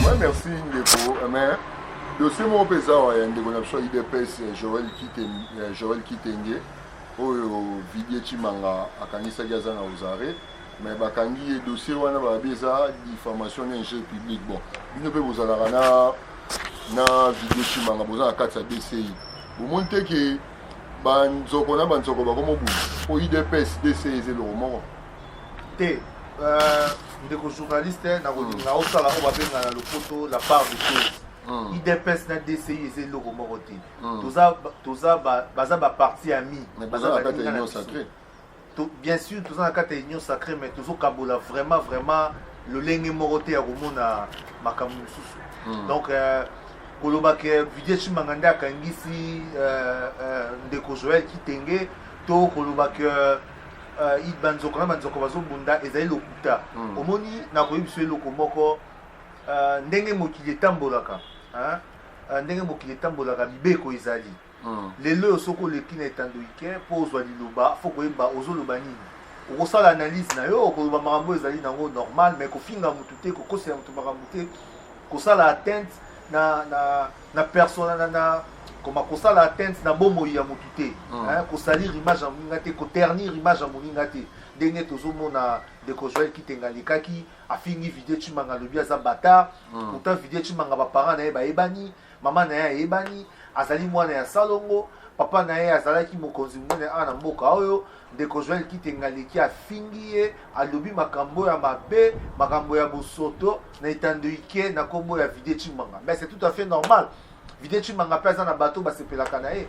Ouais, merci ndeko mais dossier moko mpe eza awa ya ndeko na biso ya udps joel kitenge, joel kitenge oyo vidie chimanga akangisaki aza na osare mais bakangi ye dossier wana balobi eza diffamation na injure public bon bino mpe bozalaka na na vidie chimanga boza na kati ya dci bomoni te ke banzoko na banzoko bakomobunda mpo udps dci eza eloko moko te euh, ndeko journaliste nakolinga osala oyo babenga na lopoto la part de chose hmm. idps na dci eza eloko moko te hmm. baza baparti ami bien sûr toza na kati ya union sacré mais tozokabola vraiment vraiment lolenge moko te ya komona makambo mosusu hmm. donc euh, koloba ke vidie chimanga nde akangisi euh, euh, ndeko joel kitenge to koloba ke uh, ba nzoko na ba nzoko bazo bunda ezali lokuta mm. omoni na koyebi so eloko moko uh, ndenge mokili etambolaka hein uh, ndenge mokili etambolaka mibeko ezali mm. lelo oyo soki oleki na etando ike mpo ozwa liloba fo koyeba ozoloba nini okosala analyse na yo okoloba makambo ezali nango normal mais kofinga motu te kokosela motu makambo te kosala atteinte na, na na persona na na koma kosala atteinte na bomoi ya motu te mm. hein, kosalir image ya moninga te koternir image ya moninga te ndenge tozomona ndeko joel kitenga alekaki afingi vidie cimanga alobi aza batar mm. pourtant vidie cimanga baparent na ye bayebani mama na ye ayebani azali mwana ya salongo papa na ye azalaki mokonzi monene awa na mboka oyo ndeko joel kitenga aleki afingi ye alobi makambo ya mabe makambo ya bosoto na etando ike na kombo ya vide chimanga mais c'est tout à fait normal vide chimanga mpe aza na bato basepelaka na ye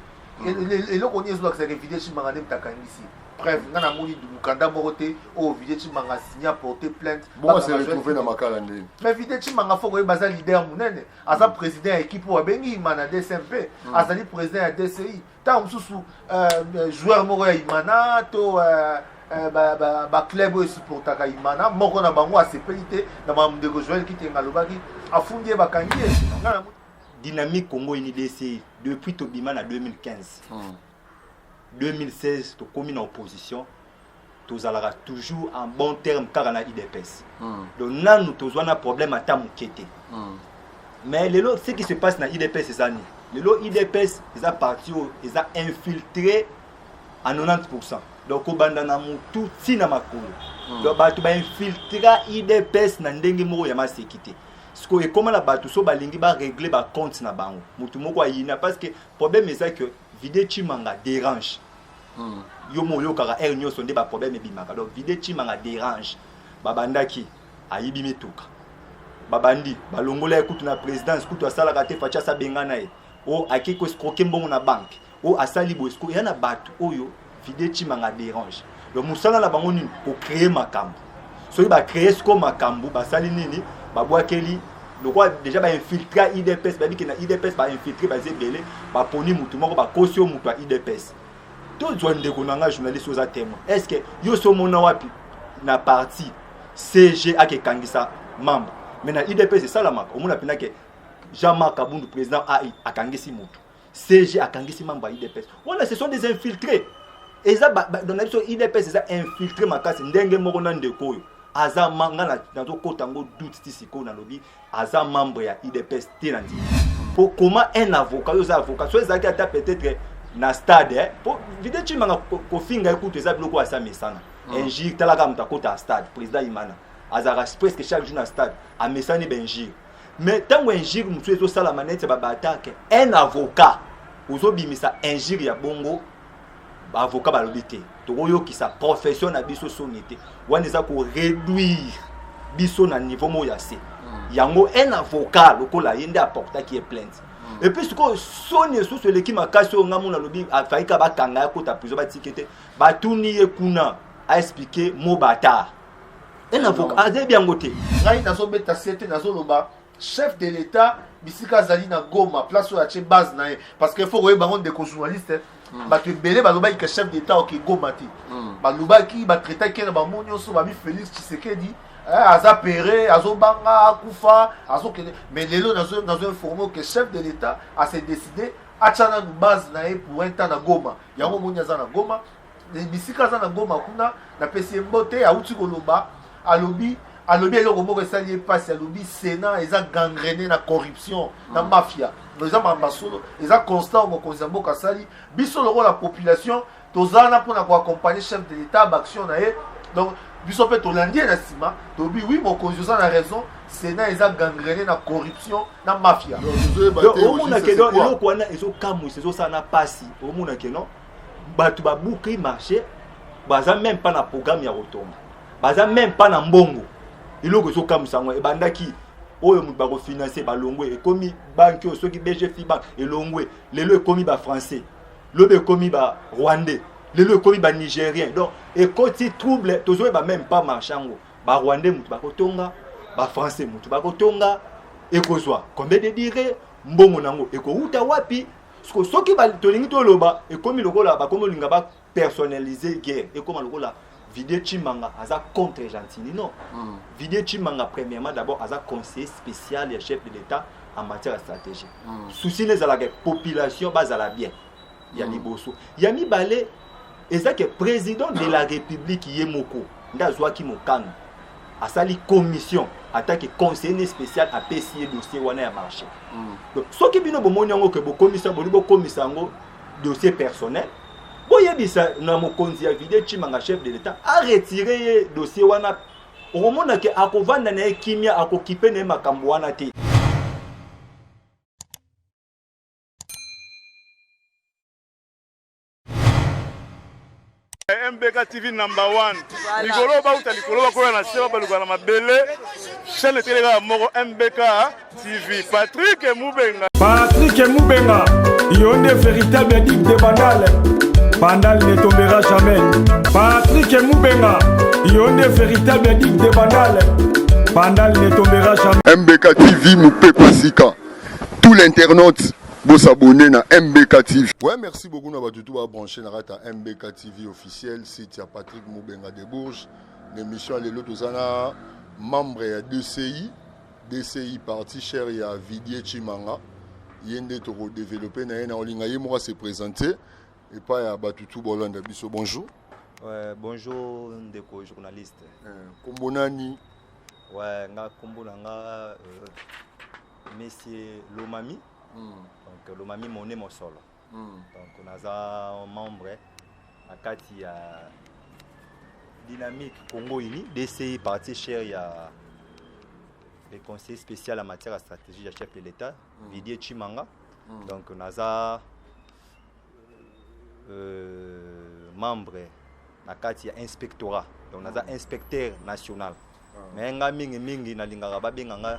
eloko nini ezolakisa ke vide chimanga nde moto akangisi preuve nga namoni mokanda moko te oyo oh, vide chimanga signa porte plainte retrouve na makala ndeni mais vide chimanga fo koyeba aza leader monene aza mm. président ya équipe oyo abengi imana dcmp mm. azali président ya dci ntango mosusu euh, joueur moko ya imana to euh, Eh, baclub oyo esupportaka imana moko na bango asepeli te na makambo ndeko joel kitenga alobaki afundi ye bakangi ye dynamique congo unidc depuis tobima na 2015 2016 hmm. tokomi na opposition tozalaka toujours en bon terme kaka na udps mm. donc nanu tozwa na problème ata moke te mm. mais lelo ce qui se passe na udps eza nini lelo udps eza parti oyo eza infiltré à 90 pourcent donc kobanda na motu ti na makolo mm. donc bato bainfiltra udps na ndenge moko ya maseki te sikoyo ekóma na bato so balingi baregle bacompte na bango motu moko ayina parce que problème eza que vide chimanga dérange hmm. yo mo oyokaka heure nyonso nde baproblème ebimaka donc vide chimanga dérange babandaki ayibi mituka babandi balongola ye kutu na présidence kutu asalaka te faci asabengana ye o akei koescroke mbongo na banke o asali boescro eya na bato oyo vide chimanga dérange donc mosala na bango nini kocree makambo soki bacree siko makambo basali nini babwakeli lokola déjà bainfiltre ya idps bayebi ke na idps bainfiltre baza ebele baponi motu moko bakosi yo motu ya idps tozwa ndeko na ngai journaliste oza témoin est ce que yo so omona wapi na parti cg akekangisa membre me na udps esalamaka omona mpena ke jean marc abundu président ai akangisi motu cg akangisi membre ya udps wana ce sont des infiltrés eza na biso udps eza infiltré makasi ndenge moko na ndeko oyo aza nga nazokota yango doute ti sikoyo nalobi aza membre ya udps te na ndimi po koma un avocat oyo oza avocat so ezalaki ata peut-être na stade eh? po vide cimanga kofinga ye kutu eza biloko asa mesana mm. injure talaka moto akota ya stade président imana azalaka presque chaque jour na stade amesani bainjure mais ntango injure mosusu ezosalama neti ya babaatake un avocat ozobimisa injure ya bongo ba avocat balobi te tokoyokisa profession na biso soni te wana eza koreduire biso na niveau moko ya se hmm. yango un avocat lokola ye nde aportaki ye plainte hmm. epuis sikoyo soni esusu eleki makasi oyo ngai mona alobi afaika bakanga ya kota prison batike te batuni ye kuna aexplike mo batar un avocat azeyebi yango te ngai nazobeta sete nazoloba chef de l'etat bisika azali na goma place oyo atie base na ye parce que faut koyeba yango ndeko journaliste hmm. bato ebele balobaki ke chef d'état oke goma te hmm. balobaki batraitaki na bango nyonso babi félix tshisekedi eh, aza pere azobanga akufa azokende mais lelo nazo informe ke chef de l'état ase décide atya nanu base na ye pour un temps na goma yango omoni aza na goma bisika aza na goma kuna napesi ye mbote auti koloba alobi alobi eloko moko esali ye mpasi alobi sénat eza gangrene na corruption na mm. mafia eza mamba solo eza constat oyo mokonzi ya mboka asali biso lokola population toza wana mpona koaccompagne chef de l'état baaction na ye donc biso mpe tolandi ye na nsima tolobi wi mokonzi oza na raison sénat eza gangrene na corruption na mafia omonake eloko wana ezokamwisa ezosala na mpasi omonake non bato babuki marché baza meme mpa na programme ya kotonga baza meme mpa na mbongo eloko ezokamwisa yango ebandaki oyo moto bakofinanse balongwe ekomi banki oyo soki bgfi bank elongwe lelo ekomi bafrançais lobi ekomi barwandais lelo ekomi banigérien donc ekoti trouble tozoyeba meme mpa marché yango barwandais moto bakotonga bafrançais moto bakotonga ekozwa combien de dire mbongo na yango ekowuta wapi siko soki tolingi toloba ekomi lokola bakomi olinga ba personnalise guerre ekoma lokola vidie chimanga aza contre gentini non mm. vidie chimanga premièrement d'abord aza conseiller spécial ya chef de l'état en matière ya stratégie mm. souci na ezalaka population bazala bien ya mm. liboso ya mibale eza ke president de la republique ye moko nde azwaki mokano asali commission atake conseiller spécial apesi ye dossier wana ya marché mm. donc soki bino bomoni yango ke bokomisa boli bokomisa yango dossier personnel boyebisa na mokonzi ya vide chimanga chef de l'état aretire ye dossier wana okomona ke akovanda na ye kimia akokipe na ye makambo wana te MBK TV number one likolo bauta likolo bakoya na se babaluka na mabele chaîne etele kaka moko MBK TV Patrick Mubenga Patrick Mubenga yo nde véritable addict de bandale bandale ne tombera jamais Patrick Mubenga yo nde véritable addict de bandale bandale ne tombera jamais MBK TV mopepe sika tout l'internaute Bo s'abonner na MBK TV. Ouais, merci beaucoup na batu tout ba brancher na kata MBK TV officiel site ya Patrick Mubenga de Bourges. L'émission lelo tozana membre ya DCI, DCI parti cher ya Vidier Chimanga. Yende toko développer na ye na olinga ye moko se présenter et pas ya batu tout bolanda biso. Bonjour. Ouais, bonjour ndeko journaliste. Euh, kombo nani? Ouais, nga kombo na nga euh, monsieur lomami mm. donc lomami mone mosolo mm. donc naza membre na kati ya dynamique congo uni dci parti cher ya le conseiller spécial en matière ya stratégie ya chef de l'état mm. vidie chimanga mm. donc naza euh, membre na kati ya inspectorat donc naza ah. inspecteur national ah. mais ngai mingimingi nalingaka babenga ngai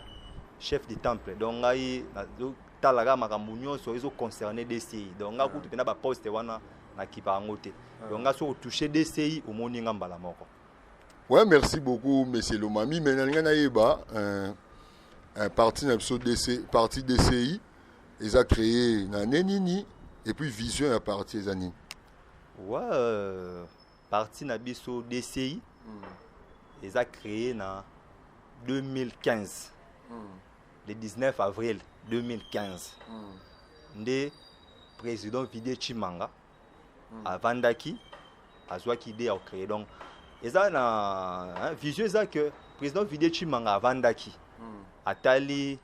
chef de temple donc ngai nazotalaka makambo nyonso ezoconcerne dci donc ngai ah. kutu mpena baposte wana nakipa yango te donc ngai soki otouche dci omoni ngai mbala moko ouais merci beaucoup monsieur lomami mais nalinga nayeba euh, euh, parti na biso parti dci eza créé na ne nini et puis vision ya parti eza nini wa euh, parti na biso dci mm. eza créé na 2015 mm. le 19 avril 2015 mm. nde président vidie chimanga mm. avandaki azwaki idée ya kocreye donc eza na hein, vision eza que président vidie chimanga avandaki mm. atali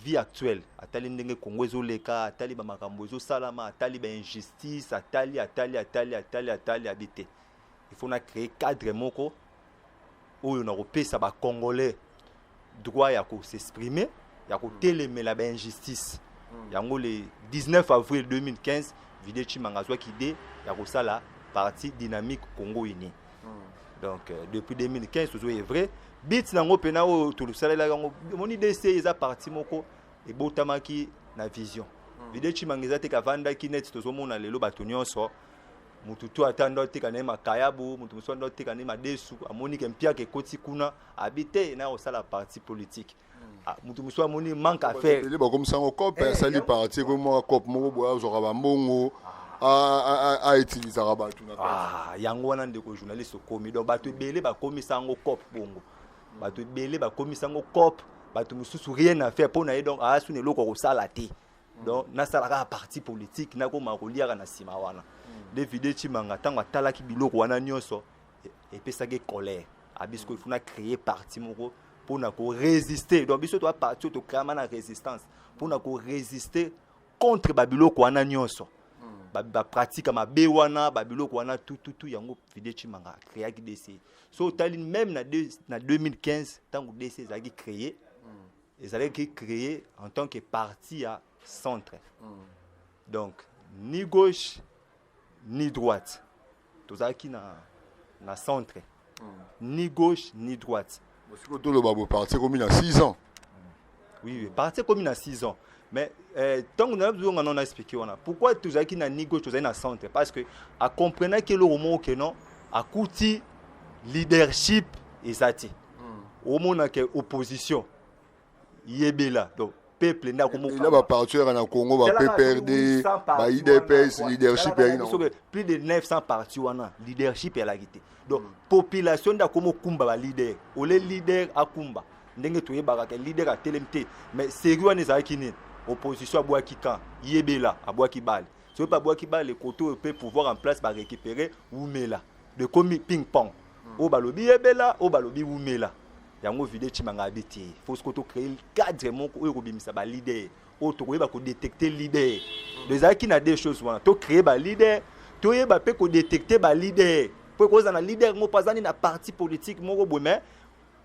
vie actuelle atali ndenge congo ezoleka atali bamakambo ezosalama atali bainjustice atali atali atali atali atali abi te il faut na créer cadre moko oyo na kopesa bacongolais droit ya kosexprime ya kotelemela bainjustice hmm. yango le 19 avril 2015 vide chimanga azwaki ide ya kosala parti dynamique congo unis donc euh, depuis 2015 tozo est vrai bit nango pena oyo tolusalela yango moni DC eza parti moko ebotamaki na vision hmm. video chimanga eza te kavandaki net tozomona lelo bato nyonso motu to ata ndo ateka na ye makayabu motu mosusu ndo ateka na ye madesu amoni ke mpiaka ekoti kuna abi te na kosala parti politique Ah, moto mosusu amoni manque à faire ebele bakomisa yango cope Eh, asali yango- parti ekomi mwaka cope moko boye azwaka bambongo autilisaka bato na kati Ah, yango wana ndeko journaliste okomi donc bato ebele bakomisa yango cop bongo bato ebele bakomisa yango cop bato mosusu rien à faire mpo na ye donc aasuna eloko ya kosala te donc nasala kaka parti politique nakoma koliaka na nsima wana david echimanga ntango atalaki biloko wana nyonso epesaki ye colère abi sikoyo ifuna créer parti moko mpo na koresiste donc biso toa parti oyo tokreama na résistance mpo na koresiste contre babiloko wana nyonso bapratika ba mabe wana babiloko wana tututu yango fide chimanga akreaki dc so otali meme na, de, na 2015 ntango dc ezalaki créer ezalaki créer en tant que parti ya centre donc ni gauche ni droite tozalaki na, na centre mm. ni gauche ni droite sikoyo toloba bo parti ekomi na 6 ans oui, oui. parti ekomi na 6 ans mais ntango eh, nayebi zonga non na expliqué wana pourquoi tozalaki na ni gauche tozali na centre parce que acomprenaki eloko moko ke non akuti leadership eza te mm. omonaka opposition yebela donc peuple nde akomoka bapartieur na congo ba pprd ba idps leadership ya ino plus de 900 parti wana leadership elaki te donc mm. population nde akoma okumba baleader ole leader akumba ndenge toyebaka ke leader atelemi te mais serie wana ezalaki nini opposition abwaki kan yebela abwaki bale soki mpe abwaki bale kote oyo mpe pouvoir en place barécupere wumela de komi ping pong oyo balobi yebela oyo balobi wumela yango vide chimanga abi te faut siko tocree cadre moko oyo ekobimisa balider oyo tokoyeba kodetecte lider do ezalaki na deux choses wana tocree balider toyeba mpe kodetecte balider mpo ekozala na lider moko azali na parti politique moko boye mais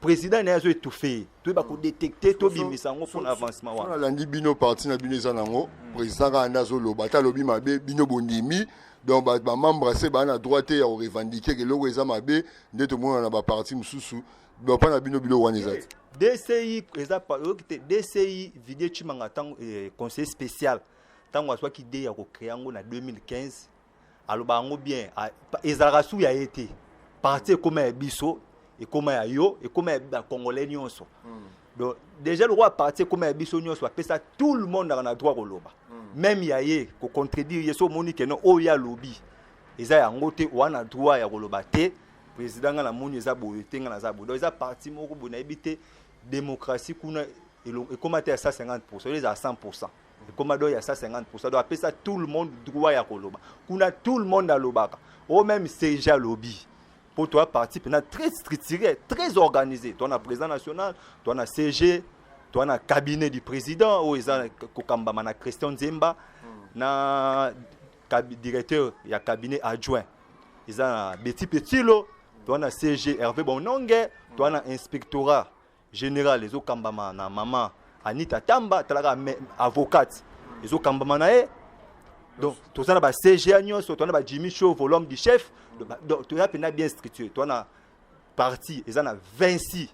president naye azo étouffe ye toyeba kodetecte tobimisa yango mpona avancement wana alandi bino parti na bino eza nango hmm. président kaka nde azoloba ata alobi mabe bino bondimi donc bamembre se baa na droit te ya korevendiquer eloko eza mabe nde tomonana na baparti mosusu bapa na bino biloko wana eza te dci eza oyoki te dci vidie chimanga ntango eh, conseiller spécial ntango azwaki idee ya kocréa yango na 2015 aloba yango bien ezalaka su ya ye te parti ekoma ya biso ekoma ya yo ekoma ya bacongolais nyonso hmm. donc déjà lokola parti ekoma ya biso nyonso bapesa tout le monde aka na droit koloba hmm. meme ya ye kocontredire ye so omoni keno oyo oh, ye alobi eza yango te oa na droit ya koloba te président ngai namoni eza boye te ngai naza boye donc eza parti moko boye nayebi te démocratie kuna ekoma te ya 150 pourcent oyo eza ya 100 pourcent ekoma do ya 150 do apesa tout le monde droit ya koloba kuna tout le monde alobaka o même seja alobi mpo toya parti mpena très structuré très organisé toa na président national toa na cg toa na cabinet du président oyo eza kokambama na christian nzemba na directeur ya cabinet adjoint eza na beti petilo toa na cg herve bononge toa na inspectorat General ezo kambama na maman Anita Tamba talaka avocate ezo kambama na ye donc toza na ba CGA nyonso toza na ba Jimmy Show volume du chef donc toza pena bien structuré toza na parti eza na 26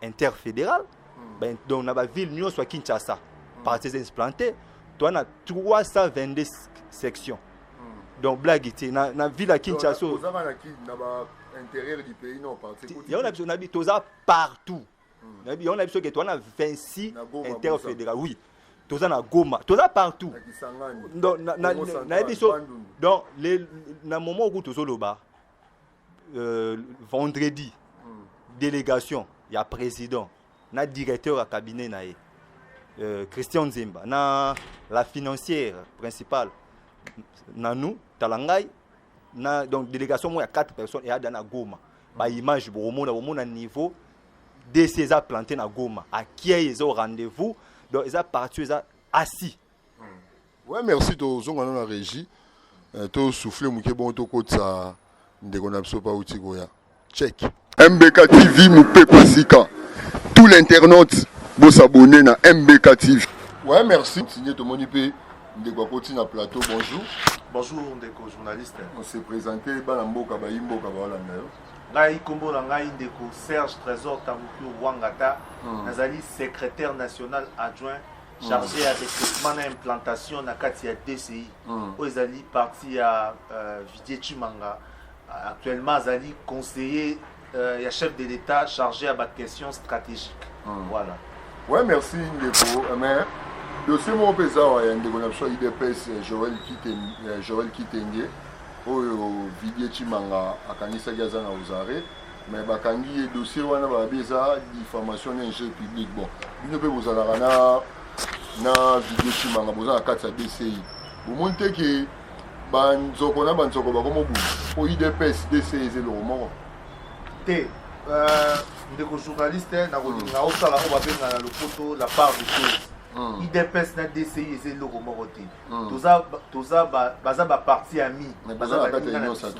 interfédéral hmm. ben, donc na ba ville nyonso ya Kinshasa hmm. parti eza implanté toza na 322 sections hmm. donc blague te na, na ville ya Kinshasa toza na ba intérieur du pays non parti yango na biso na bi toza partout nayebi yango nayebi soki towana 26 interfédéral oui toza na goma toza partout nayebi so donc na moment oku tozoloba euh, vendredi hmm. délégation ya président na directeur ya cabinet na ye euh, christian nzemba na la financière principale nanu tala ngai na donc délégation moko ya 4 personnes eyada na goma baimage bokomona bomona niveau dc eza plante na goma akiei eza rendez-vous donc eza parti eza asi hmm. ouais merci tozonga na na régie euh, tosouffle moke bongo tokotisa ndeko na biso pauti koya Check. MBK TV Mupepa Sika. Tout l'internaute bo s'abonner na MBK TV. Ouais, merci. Signé to moni pe ndeko akoti na plateau. Bonjour. Bonjour ndeko journaliste. On s'est présenté bana mboka ba imboka ba wala nayo. ngai nkombo na ngai ndeko serge trésor tabuki wangata mm. nazali secrétaire national adjoint hmm. chargé mm. ya recrutement na implantation na kati ya dci mm. oyo ezali parti ya uh, vidie chimanga Actuellement azali conseiller euh, ya chef de l'État chargé ya ba questions stratégiques. Hmm. Voilà. Ouais, merci ndeko. Eh, mais dossier moko mpe eza awa ya ndeko na biso ya udps eh, joel kitenge, eh, joel kitenge oyo vidie chimanga akangisaki aza na osare mais bakangi ye dossier wana balobi eza diffamation na injure public bon bino mpe bozalaka na na vidie chimanga boza na kati ya dci bomoni te ke ba nzoko na ba nzoko ba komo bunda po idps dc eza eloko moko te euh, ndeko journaliste nakolinga hmm. osala oyo babenga na lopoto la part de chose hmm. idps na dci eza eloko moko te hmm. baza baparti ami baza baninga na biso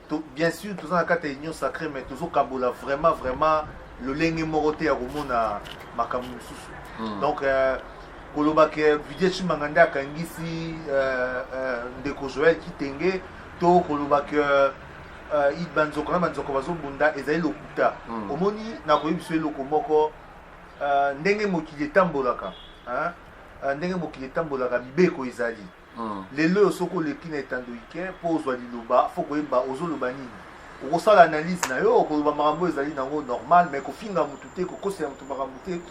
To, bien sûr toza na kati ya union sacrée mais tozokabola vraiment vraiment lolenge moko te ya komona makambo mosusu mm. donc euh, koloba ke vidie chimanga nde akangisi euh, euh, ndeko joel kitenge to koloba ke euh, banzoko na banzoko bazobunda ezali lokuta mm. omoni nakoyebi biso eloko moko euh, ndenge mokili etambolaka hein? Euh, ndenge mokili etambolaka mibeko ezali Lelo oyo soki oleki na etando ike mpo ozwa liloba, fo koyeba ozoloba nini. Okosala analyse na yo, okoloba makambo ezali nango normal, mais kofinga mutu te, kokosela mutu makambo te,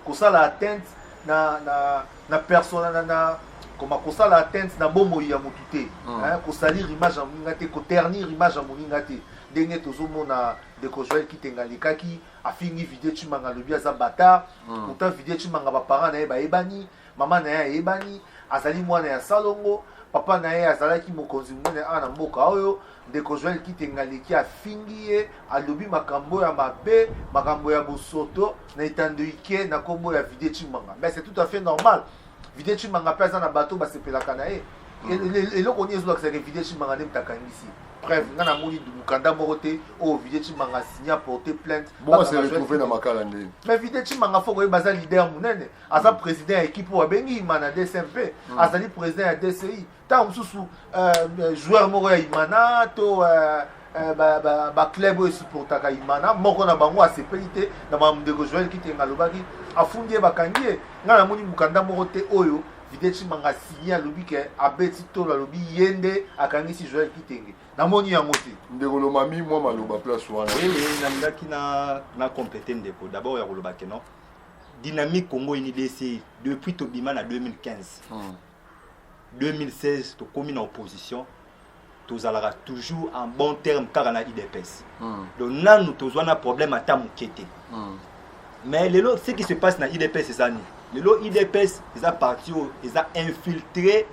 kosala atteinte na na na persona na na koma kosala atteinte na bomoi ya mutu te, mm. hein, kosalir image ya moninga te, koternir image ya moninga te. Ndenge tozomona ndeko Joël Kitenga alekaki afingi Vidie Chimanga alobi aza bata, mm. pourtant Vidie Chimanga ba parents na ye bayebani, mama na ye ayebani azali mwana ya salongo papa na ye azalaki mokonzi monene awa na mboka oyo ndeko joel kitenga aleki afingi ye alobi makambo ya mabe makambo ya bosoto na etando ike na nkombo ya vide chimanga mais c'est tout à fait normal vide chimanga mpe aza na bato basepelaka na ye mm. eloko nini ezolakisaka vide chimanga nde moto akangisi preuve nga namoni mokanda moko te oyo vide chimanga signa porte plainte mais vide chimanga fo koyeba aza leader monene aza président ya équipe oyo abengi imana dcmp mm. azali président ya dci ntango mosusu euh, euh, joueur moko ya imana to euh, baclub oyo esupportaka imana moko na bango asepeli te na bandeko joel kitenga alobaki afundi ye bakangi ye ngai namoni mokanda moko te oyo vide cimanga asigne alobi ke abeti tolo alobi ye nde akangisi joel kitenge namoni yango te ndeko lomami mwa maloba place wana nalingaki na complete ndeko d'abord ya koloba ke non dynamique congo ini dci depuis tobima na 2015 hmm. 2016 tokomi na opposition tozalaka toujours en bon terme kaka na idps hmm. donc nanu tozwa na problème ata moke te hmm. mais lelo ce qui se passe na idps eza nini lelo idps eza parti oyo eza infiltré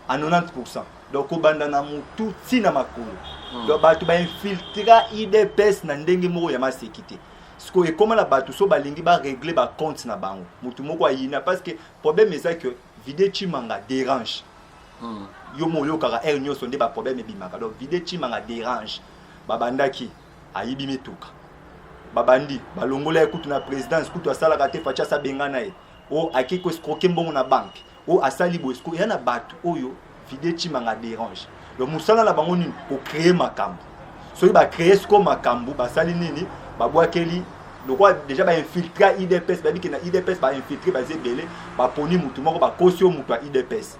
à 90 pourcent donc kobanda na motu ti na makolo hmm. donc bato bainfiltra idps na ndenge moko ya maseki te sikoyo ekoma na bato so balingi baregle bacompte na bango motu moko ayina parce que problème eza que vide chimanga dérange hmm. yo mo oyokaka aire nyonso nde baproblème ebimaka donc vide chimanga dérange babandaki ayibi mituka babandi balongola ye kutu na présidence kutu asalaka te faci asabengana ye o oh, akei koescroke mbongo na banke oyo asali boye sikoyo eya na bato oyo vide chimanga dérange donc mosala na bango nini kocreye makambo soki bacreye sikoyo makambo basali nini babwakeli lokola déjà bainfiltra idps babike na idps bainfiltre baza ebele baponi motu moko bakosi yo motu ya idps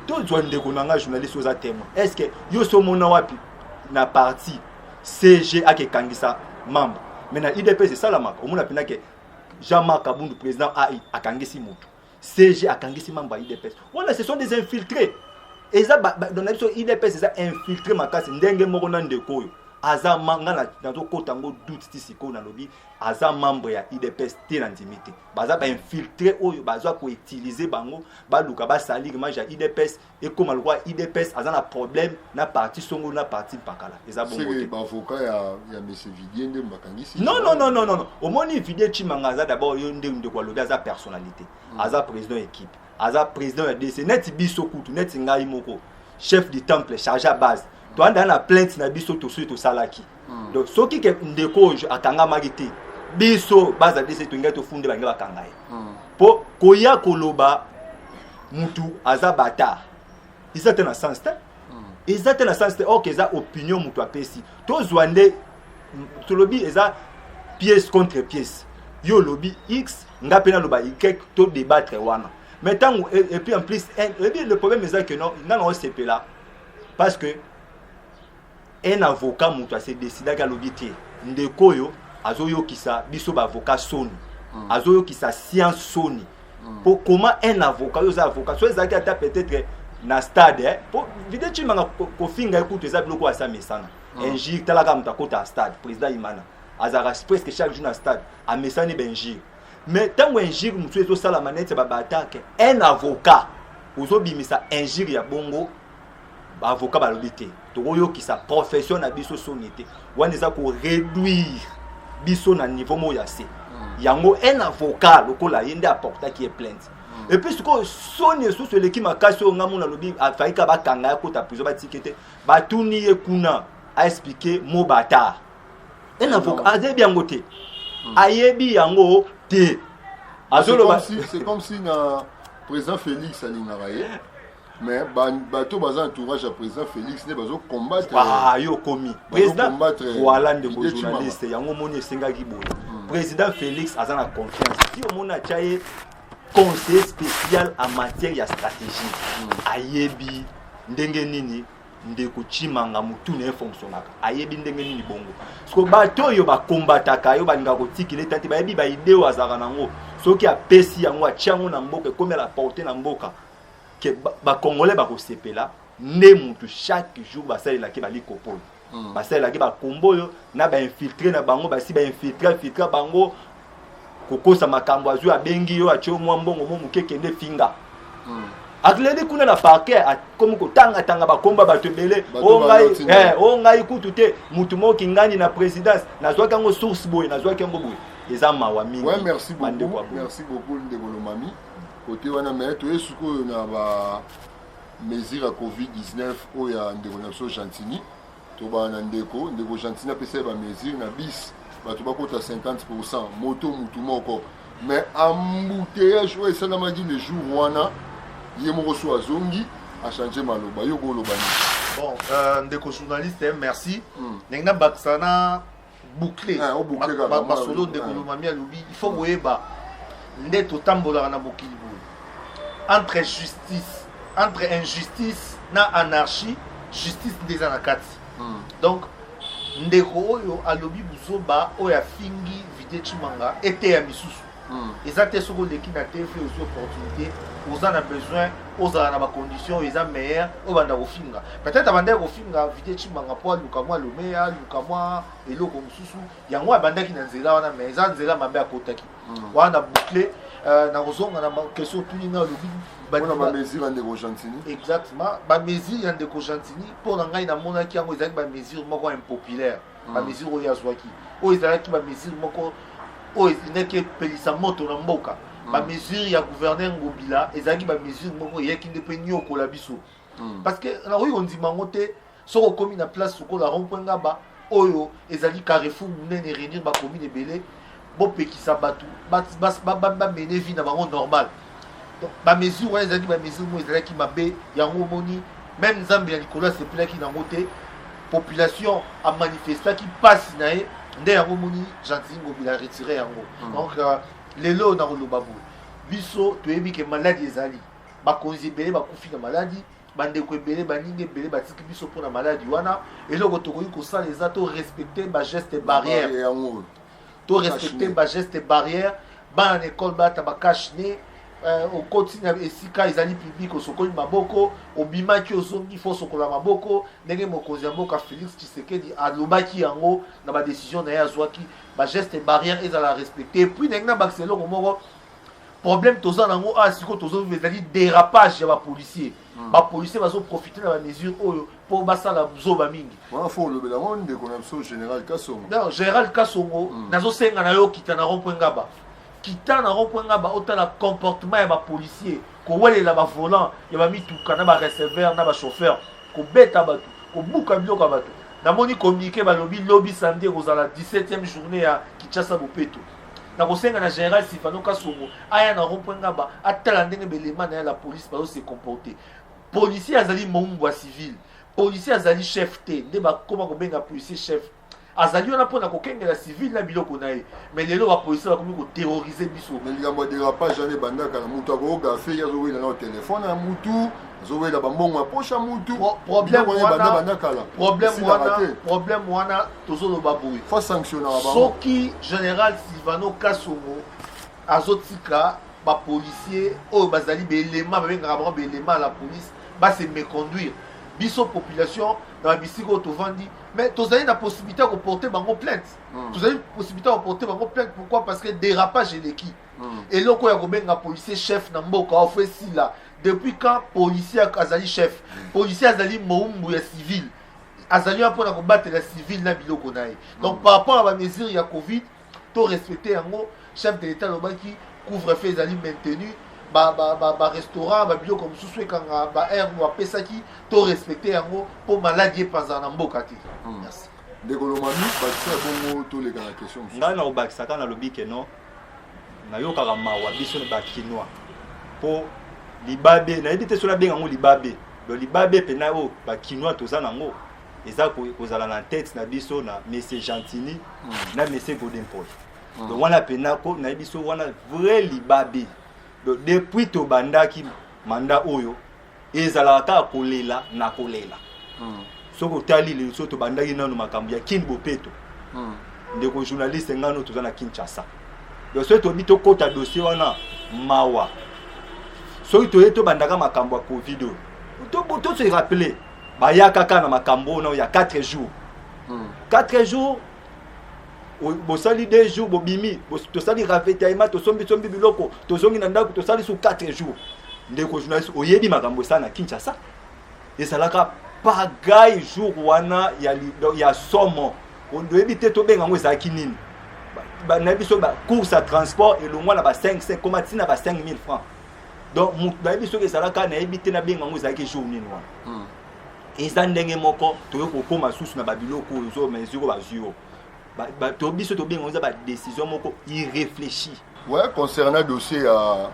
tozwa ndeko na ngai journaliste oza témoin est ce que yo so omona wapi na parti cg akekangisa membre mais na idps esalamaka omona mpena ke jean marc abundu président ai akangisi motu CG akangisi mambo ya IDPS. Wana ce sont des infiltrés. Eza ba, ba, dans la biso IDPS eza infiltré makasi ndenge moko na ndeko oyo. Aza manga na nazo kota ngo doute ti siko na lobi aza membre ya IDPS te na ndimi te. Baza ba infiltré oyo baza ko utiliser bango baluka ba salir image ya IDPS ekoma lokola idps aza na problème na parti songo na parti mpakala eza bongo te bavoka ya, ya monsieur vidie nde bakangisi non non non non non omoni vidie chimanga aza d'abord yo nde ndeko alobi aza personnalité mm. aza président ya équipe aza président ya dc neti biso kutu neti ngai moko chef du temple charge à base toanda na plainte na biso tosuki tosalaki hmm. donc soki ke ndeko oyo akangamaki te biso baza dese tolingai tofunde balingi bakanga ye mpo hmm. koya koloba mutu aza bata eza te na sens te hmm. eza te na sens te orke eza opinion mutu apesi tozwa nde tolobi eza pièce contre pièce yo olobi x nga mpe naloba y to débattre wana mais ntango et puis en plus eh, le problème eza que non nga na osepela parce que un avocat moto ase decidaki alobi te ndeko oyo azoyokisa biso baavocat soni mm. azoyokisa science soni mm. po comment un avocat oyo oza avocat so ezalaki ata peut-être na stade eh? po vide cimanga kofinga ye kutu eza biloko oyo asa mesana mm. injure talaka moto akota ya stade président imana azalaka presque chaque jour na stade amesani bainjure mais ntango injure mosusu ezosalama neti babaatake un avocat ozobimisa injure ya bongo ba avocat balobi te tokoyokisa profession na biso soni te wana eza koreduire biso na niveau moko ya se hmm. yango un avocat lokola ye nde aportaki ye plainte hmm. epuis sikoyo soni esusu eleki makasi oyo ngai mona alobi afaika bakanga ya kota prison batiki te batuni ye kuna aexplike mo batar un avocat hmm. azeyebi yango te ayebi yango te azoloba c'est comme si na président félix alingaka ye mais bato baza entourage ya président félix nde bazo combattre ah, yo okomi président voilà ndeko journaliste yango omoni esengaki boye hmm. président félix aza na confiance si omoni atya ye conseiller spécial en matière ya stratégie hmm. ayebi ndenge nini ndeko chimanga motu na ye fonctionnaka ayebi ndenge nini bongo soko bato oyo bakombataka yo balingaka kotikile tati bayebi baide oyo azalaka nango soki apesi yango atya yango na mboka ekomi ala porte na mboka ke bacongolais bakosepela nde mutu chaque jour basalelaki balikopolo hmm. basalelaki bakombo oyo na bainfiltre na bango basi bainfiltre infiltre bango kokosa makambo azwi abengi yo atye mwa mbongo mo moke kende finga hmm. akleli kuna na parquet akomi kotangatanga bakomba bato ebele o ngai eh, oh, kutu te motu moko kingani na présidence nazwaki yango source boye nazwaki yango boye eza mawa mingi merci beaucoup ndeko lomami kote wana me toye sikoyo na ba mesure ya covid-19 oyo ya ndeko na biso gentini tobana na ndeko ndeko gentini apesa ye ba mesure na bis bato bakota 50 pourcent moto motu moko mais embouteillage oyo esalamaki le jour wana ye moko so azongi achange maloba yo koloba nini bon euh, ndeko journaliste merci hmm. ndenge nabakisa na boucle eh, masolo ndeko eh. lomami alobi il faut boyeba nde totambolaka na mokili boye entre justice entre injustice na anarchie justice nde eza na kati hmm. donc ndeko oyo alobi buzoba oyo afingi vide chimanga eteya misusu Hmm. eza te soki oleki na tv ozwi opportunité oza na besoin ozala na bacondition oyo eza meilleur oyo banda kofinga peut-être abandaki kofinga vide cimanga mpo aluka mwa lomeya aluka mwa eloko mosusu yango abandaki na nzela wana mais eza nzela mabe akotaki hmm. wana na boucle euh, na kozonga na question otuni nga alobi bamesure ya ndeko gentini exactement bamesure ya ndeko gentini mpo na ngai namonaki yango ezalaki bamesure moko impopulaire ba hmm. mesure oyo azwaki oyo ezalaki ba mesure moko oyo ezalaki epelisa moto na mboka hmm. ba mesure ya gouverneur ngobila ezalaki ba mesure moko eyaki nde mpe niokola biso hmm. parce que nakoki kondima yango te soki okomi na place lokola rond point ngaba oyo ezali carrefour monene réunir bacommune ebele bopekisa bato bamene vie na bango normal donc bamesure wana ezalaki bamesure moko ezalaki mabe yango omoni meme nzambe ya likolo asepelaki nango te population amanifestaki mpasi na ye nde yango omoni gentili ngobila aretire yango hmm. donc euh, lelo oyo nakoloba boye biso toyebi ke maladi ezali bakonzi ebele bakufi na maladi bandeko ebele baninga ebele batiki biso mpo na maladi wana eloko tokoki kosala eza to respecte bageste barrière to respecte ba geste barrière bana na ekole balata ba cache ne euh, okoti na esika ezali publike osokoli maboko obimaki ozongi fo osokola maboko ndenge mokonzi ya mboka félix tshisekedi alobaki yango na badécision na ye azwaki bageste barrière ezala respecte epuis ndenge na bakisa eloko moko problème toza na yango awa ah, sikoyo tozozwa ezali dérapage ya bapolicier hmm. ba policiers bazo profiter na ba mesures oyo po basala zoba mingi wana fo olobela ngo ndeko na biso général kasongo non général kasongo hmm. nazo senga na yo kita na rond point ngaba kita na rond point ngaba otala comportement ya ba policiers kowelela ba volant ya ba mituka na ba receveur na ba chauffeur kobeta bato kobuka biloko ya bato namoni communiqué balobi lobi samedi ekozala 17e journée ya kinshasa bopeto nakosenga na général sifano kasongo aya na rond point ngaba atala ndenge belema na ya la police bazo se comporter policier azali moumbu ya civil policier azali chef te nde bakoma kobenga policier chef azali wana mpo na kokengela civile na biloko na ye mai lelo bapolisi bakomi koterrorize biso na likambo ya derapage wana ebandaka na moto akoyoka fei azowela nao telefone ya mutu azowela bambongo ya posha mutu problème wana tozoloba boye faut sanctionnaka bango soki général silvano kasongo azotika bapolicier oyo bazali baelema babengaka bango baelema ya la police base méconduire biso population na babisika oyo tovandi mais tozali na possibilité ya koporte bango plainte mm. tozali possibilité ya koporte bango plainte pourquoi parce que dérapage eleki mm. eloko oyo ya kobenga policier chef na mboka ofe esila depuis quand policier azali chef hmm. policier azali moumbu ya civile azali wana mpona kobatela civile na biloko na ye donc mm. par rapport ya bamesure ya covid to respecte yango chef de l'état alobaki couvre feu ezali maintenu barestaurant babiloko mosusu ekanga baheure bapesaki to respecte yango mpo maladi epanzana na mboka te mm. ndeko lomami bakisa bongo toleka na question ngai na kobakisaka nalobi ke non nayokaka mawa biso ba kinois po libabe nayebi te soki abenga yango libabe do libabe mpena oyo bakinois toza nango eza kozala na tete na biso na monsieur gentini mm. na monsieur godempol mm. donc wana mpena ko nayebi so wana vrai libabe donc depuis tobandaki manda oyo ezalaka kaka kolela na kolela hmm. soki otali lelo soki tobandaki nano makambo ya kin bopeto hmm. ndeko journaliste ngano toza na kinshasa donc soki toyebi tokɔta dossier wana mawa soki toye tobandaka makambo ya covid oyo tosoki rappeler bayaka kaka na makambo oyo ya 4 jours 4 hmm. jours bosali deux jours bobimi tosali ravitaillement tosombisombi biloko tozongi na ndako tosali su 4 jours ndeko journaliste oyebi makambo esala na kinshasa ezalaka pagai jour wana ya, ya somo oyebi te tobenga yango ezalaki nini na biso bacourse ya transport elongwa na ba 5 koma ntina na ba 5000 francs donc moto nayebi soki ezalaka nayebi te nabenga yango ezalaki jour nini wana hmm. eza ndenge moko toyo kokoma susu na babiloko oyo ozo mesure oyo bazwi yo to biso tobenga eza badécision moko irréfléchi ouais concernant dossier ya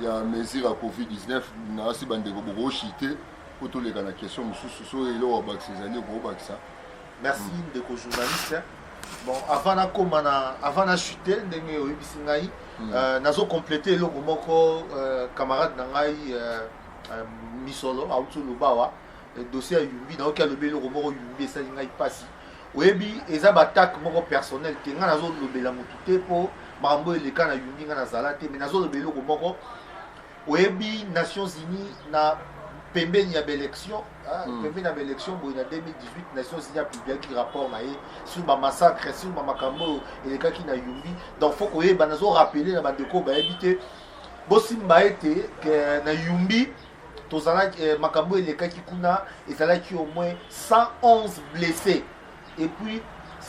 ya mesure ya covid-19 nasi bandeko bokoshite po toleka na question mosusu so eloko abakisa ezali okobakisa merci mm. ndeko journaliste bon avant nakoma na avant na chute ndenge oyebisi ngai mm. euh, nazo complete eloko moko euh, camarade na ngai euh, euh, misolo auti oloba awa euh, dossier ya yumbi nayoki alobi eloko moko yumbi esali ngai mpasi oyebi eza baattaque moko personnel te ngai nazolobela motu te mpo makambo oyo eleka na yumbi ngai nazala te mais nazolobela eloko moko oyebi nations unies na pembeni ya baélection ah, hmm. pembeni ya baélection boye na 2018 nations unies apubliaki rapport na ye sur bamassacre sur bamakambo oyo elekaki na yumbi donc faut koyeba nazo rappele na bandeko bayebi te bosimba ete eh, na yumbi tozalaki eh, makambo elekaki kuna ezalaki au moins 111 blessés et puis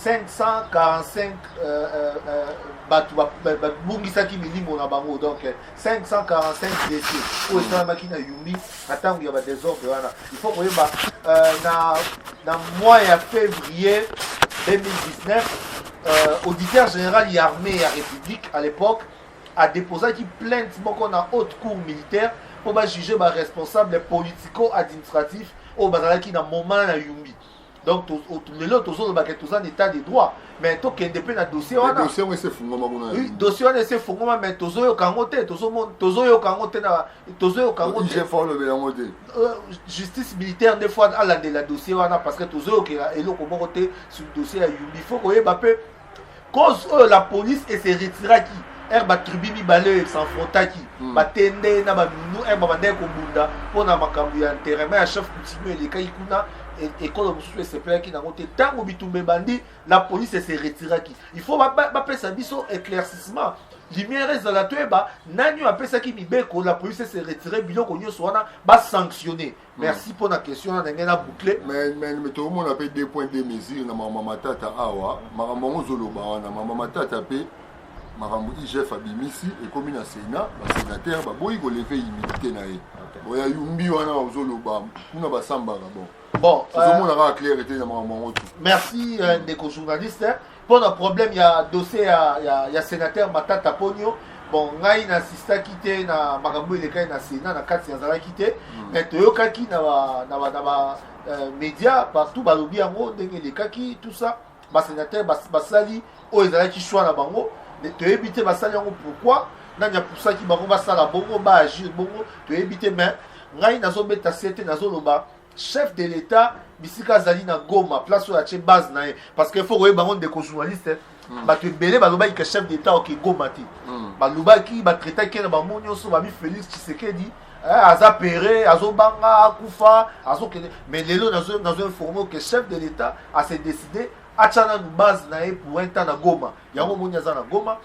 545 euh, euh, euh, bato babungisaki milimo na bango donc 545 blessé oyo esalamaki na yumi na ntango ya badesordre wana il faut koyeba na, na mois ya février 2019 auditeur général ya armée ya république à l'époque a deposaki plainte moko na haute cour militaire mpo bajuge baresponsable politico administratif oyo bazalaki na moment na yumbi donc lelo tozoloba ke toza na état de droit mais tokende mpe na dossier wana dossier wana esi efungwama mais tozoyoka yango te tozoyoka yango te tozoyoka yango te euh, justice militaire nde fois alandela dossier wana parce que tozoyokela eloko moko te sur dossier ya yumbi faut koyeba mpe cause oyo la police ese retiraki ere batribu mibale oyo esanfrontaki hmm. batende ye na baminu ere babandaki kobunda mpo na makambo ya nterema ya chef coutumier elekaki kuna e, ekolo mosusu esepelaki nango te ntango bitumba ebandi la police ese retiraki il faut bapesa biso éclaircissement lumière ezala toyeba nani oyo apesaki mibeko la police ese retire biloko nyonso wana basanctionne merci mpo na question na ndenge na boucle mais tokomona mpe deux point de mesure na mama matata awa makambo yango ozoloba wana mama matata mpe makambo igf abimisi ekomi na sénat basénateur baboyi koleve humilité na ye oya yumbi wana ozoloba kuna basambaka bon bon ozomona euh, kaka claire te na makambo yango te merci euh, ndeko journaliste hein. mpo na problème ya dossier ya, ya, ya sénateur matata ponio bon ngai nasistaki te na makambo elekaki na sénat na kati nazalaki te mm. mais toyokaki na ba, na ba, na ba euh, média partout balobi yango ndenge elekaki tout ça basénateur basali oyo ezalaki choix na bango toyebi te basali yango pourquoi nani apusaki bango basala bongo baagir bongo toyebi te mais ngai nazobeta se te nazoloba chef de l'etat bisika azali na goma place oyo atie base na ye parce que faut koyeba yango ndeko journaliste hmm. bato ebele balobaki ke chef d'état oke goma te hmm. balobaki batraitaki ye na bango nyonso babi félix tshisekedi eh, aza pere azobanga akufa azokende mais lelo nazo informe ke chef de l'état ase décide atya nanu base na ye pour un temps na goma yango omoni aza na goma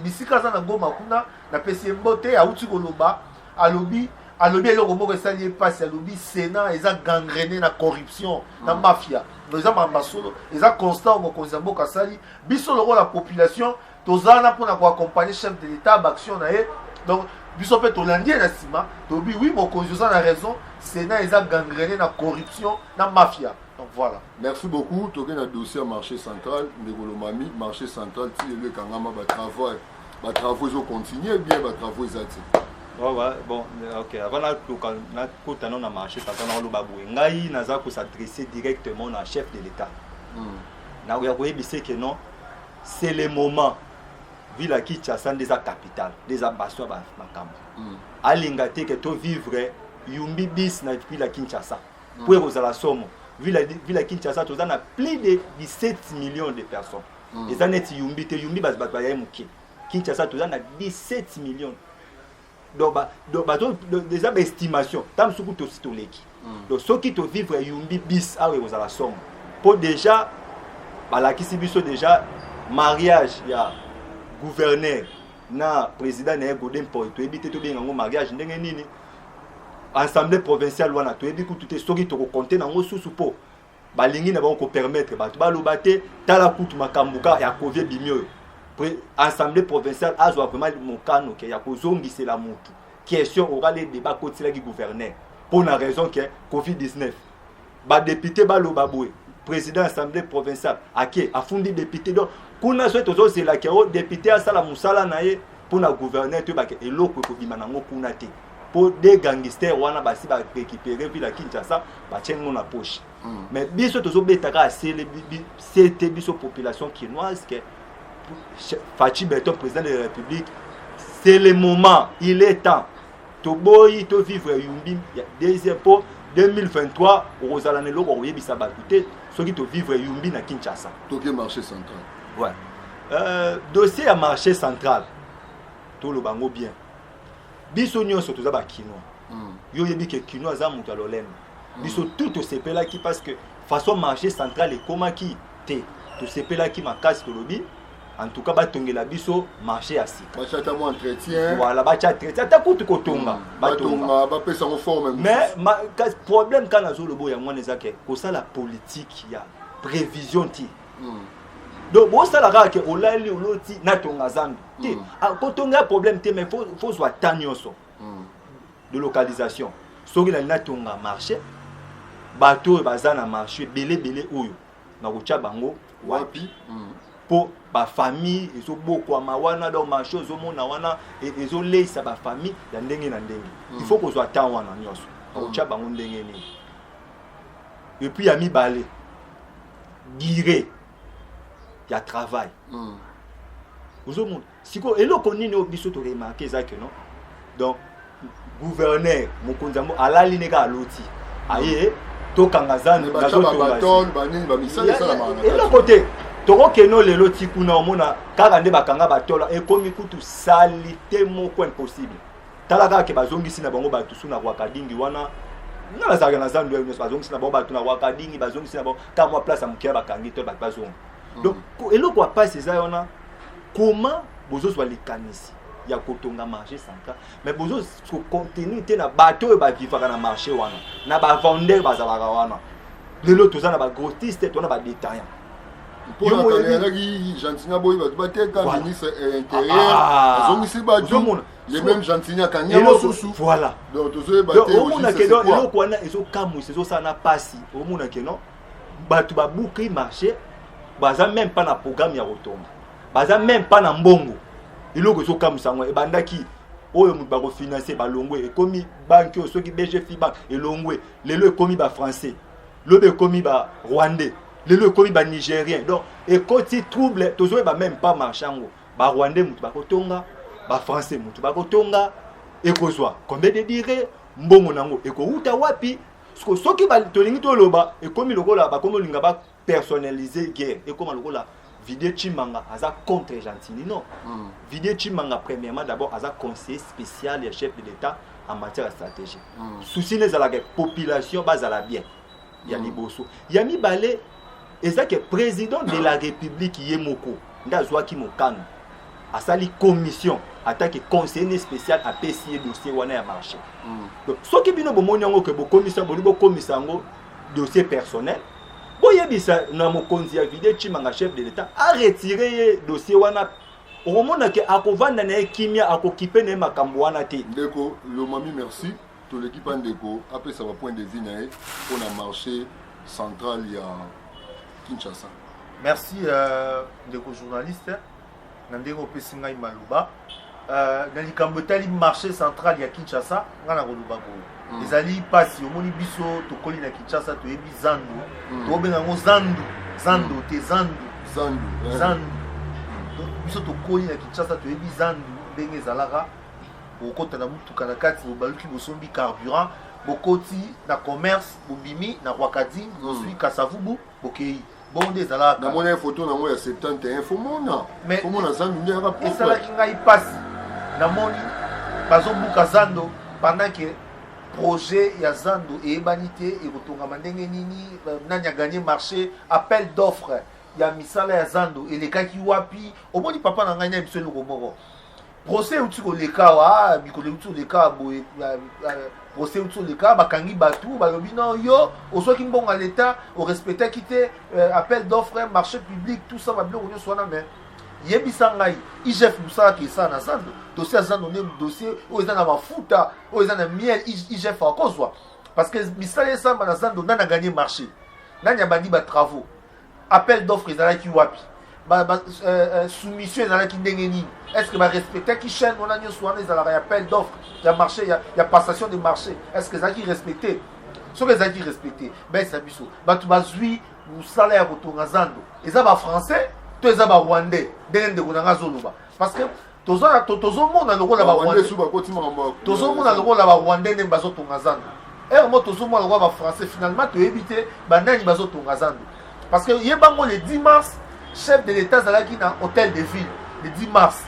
bisika aza na goma kuna napesi ye mbote auti koloba alobi alobi eloko moko esali ye mpasi alobi sénat eza gangrene na corruption na mm. mafia eza mamba solo eza constant mokonzi ya mboka asali biso lokola population toza wana mpona koaccompagne chef de l'état baaction na ye donc biso mpe tolandi ye na nsima tolobi wi mokonzi oza na raison sénat eza gangrene na corruption na mafia Donc voilà. Merci beaucoup. Toke na dossier marché central, Ndegolo Mami, marché central, ti le kangama ba travaux, ba travaux ils ont continué bien ba travaux ils ati. Oh ouais, bon, ok. Avant la local, na kota non na marché central na loba boue. Ngai na za ko s'adresser directement na chef de l'état. Hmm. Na ya ko yebise que non, c'est le moment. Ville à Kinshasa des capitales, des ambassades ba makambo. Hmm. Alinga te que to vivre yumbi bis na ville à Kinshasa. mpo ekozala somo vila vila kinshasa toza na plus de 17 millions de personnes mm. eza neti yumbi te yumbi bato baye moke kinshasa toza na 17 millions donc bato eza baestimation ta mosusu kutu osi toleki mm. donc soki tovivre yumbi bis awa ekozala somo mpo déjà balakisi biso déjà mariage ya gouverneur na président na ye godin poi toyebi te tobenga yango mariage ndenge nini assemblée provinciale wana toyebi kutu te soki tokokonte nango susu mpo balingi na bango kopermettre bato baloba te tala kutu makambo kaka ya covid ebimi oyo assemblée provinciale azwa vraiment mokano ke ya kozongisela motu question orale deba akotiselaki gouverneur mpo na raison ke covid 19 ba député ba loba boye président assemblée provinciale ake afundi député donc kuna soki tozozela ke o député asala mosala na ye mpo na gouverneur toyebake eloko ekobima nango kuna te mpo de gangister wana basi barekipere vila kinshasa batye ngo na poche mm. mais biso tozobetaka asele sete biso population kinoise ke faci beton président de la république c'est le moment il est temps toboyi to vivre yumbi ya deuxième po 2023 okozala na eloko koyebisa bato te soki to vivre yumbi na kinshasa toke marché central ouais. euh, dossier ya marché central toloba yango bien biso nyonso toza bakinois mm. yo oyebi ke kinois aza moto ya lolendo mm. biso mm. tout tosepelaki parce que façon marché central ekomaki te tosepelaki makasi tolobi en tout cas batongela biso marché ya sika bachata mwa entretien voilà bacha entretien ata kutu kotonga hmm, batonga bapesa ngo forme mais ma, problème kaka nazoloba oyo yango wana eza ke kosala politique ya prévision ti mm. donc bosala kaka ke olali oloti natonga zambi te hmm. ah, kotonga ya problème te mais fo zwa ta nyonso hmm. de localisation soki nali natonga marché bato oyo baza na marché ebele ebele oyo na kotya bango wapi mpo hmm. bafamille ezobokwama wana donc marché ezomona wana e, ezoleisa bafamille ya ndenge na ndenge hmm. il faut kozwa temps wana nyonso na kotya hmm. bango ndenge nini epuis ya mibale dire ya travail ozomona sikoyo eloko nini oyo biso toremarke eza ke no donc gouverneur mokonzi yango alali ne kaka aloti aye tokanga zando eloko te tokokeno lelo ti kuna omona kaka nde bakanga batola ekomi kutu salite moko impossible tala kaka ke bazongisi na bango bato su na rwakadingi wana nga nazalaka na zando nyonso bazongisi na bango bato na rwakadingi bazongisi na bango kaka mwa place ya moke ya bakangi to bato bazonga hmm. donc eloko ya mpasi eza wana comment bozozwa likanisi ya kotonga marché central mais bozo kocontinue te na bato oyo bavivaka na marché wana na bavendeur bazalaka wana lelo toza na bagrotiste to na badetaillant mponaatalelaki gentini aboyi bato bateka ministre eh, intérieur ah, ah. azongisi bato le même gentini akangi yango susu voilà donc tozoyeba te omona ke donc eloko wana ezokamwisa ezosala na mpasi omona ke non bato babuki marché baza meme mpa na programme ya kotonga baza meme mpa na mbongo eloko ezokamwisa yango ebandaki oyo moto bakofinanse balongwe ekomi banki oyo soki bgfi bank elongwe lelo ekomi bafrançais lobi ekomi barwandais lelo ekomi banigérien donc ekoti trouble tozoyeba meme mpa marché yango barwandais moto bakotonga bafrançais moto bakotonga ekozwa combien de dire mbongo na yango ekowuta wapi siko soki tolingi toloba ekomi lokola bakomi olinga ba personnalise guerre ekoma lokola vidie chimanga aza contre gentini non mm. vidie chimanga premièrement d'abord aza conseiller spécial ya chef de l'état en matière ya stratégie mm. souci na ezalaka population bazala bien ya mm. liboso ya mibale eza ke president de la republique ye moko nde azwaki mokano asali commission atake conseiller spécial apesi ye dossier wana ya marché mm. donc soki bino bomoni yango ke bokomisa boli bokomisa yango dossier personnel boyebisa na mokonzi ya vide chimanga chef de l'état aretire ye dossier wana okomona ke akovanda na ye kimia akokipe na ye makambo wana te ndeko lomami merci Toleki pa ndeko apesa ba point de vue na ye mpo na marché central ya Kinshasa. Merci euh, ndeko journaliste na ndenge opesi ngai maloba euh, na likambo etali marché central ya Kinshasa ngai nakoloba boye mm. ezali mpasi omoni biso tokoli na Kinshasa toyebi zandu mm. tokobenga yango zandu zandu mm. te zandu zandu eh. zandu biso tokoli na Kinshasa toyebi zandu ndenge ezalaka bokokota na motuka na kati bobaluki bosombi carburant bokoti na commerce bobimi na rwakadi bozwi hmm. kasavubu bokei bongo nde ezalaka namonaki foto nango ya 71 fomona fomona zando nde yaka esalaki ngai mpasi namoni bazobuka zando pendant ke projet ya zando eyebani te ekotongama ndenge nini euh, nani aganye marché appel d'offre ya misala ya zando elekaki wapi omoni papa na ngai na biso eloko moko procès euti koleka awa ah, mikolo euti koleka awa boye ah, ah, procès euti koleka bakangi bato balobi no yo ozwaki mbongo ya leta orespectaki te euh, appel d'offre marché public tout ça babiloko nyonso wana mais yebisa ngai igf mosalaka esala na zando dossier ya zando nde dossier oyo eza na mafuta oyo eza na miel igf akozwa parce que misala esalama na zando nani aganye marché nani abandi batravaux appel d'offre ezalaki wapi ba, ba, euh, euh, soumission ezalaki ndenge nini est ce que barespectaki chaîne wana nyonso wana ezalaka ya appel d'offre ya marché ya, ya passation de marché est ce que ezalaki respecte soki ezalaki respecte baese na biso bato bazwi mosala ya kotonga zando eza bafrançais to eza barwandais ndenge ndeko na ngai azoloba parce que tozomona to, to lokola tozomona lokola barwandais nde bazotonga zando ere mo tozomona lokola bafrançais finalement toyebi te banani bazotonga zando parce que ye bango le 10 mars chef de l'état azalaki na hôtel de ville le 10 mars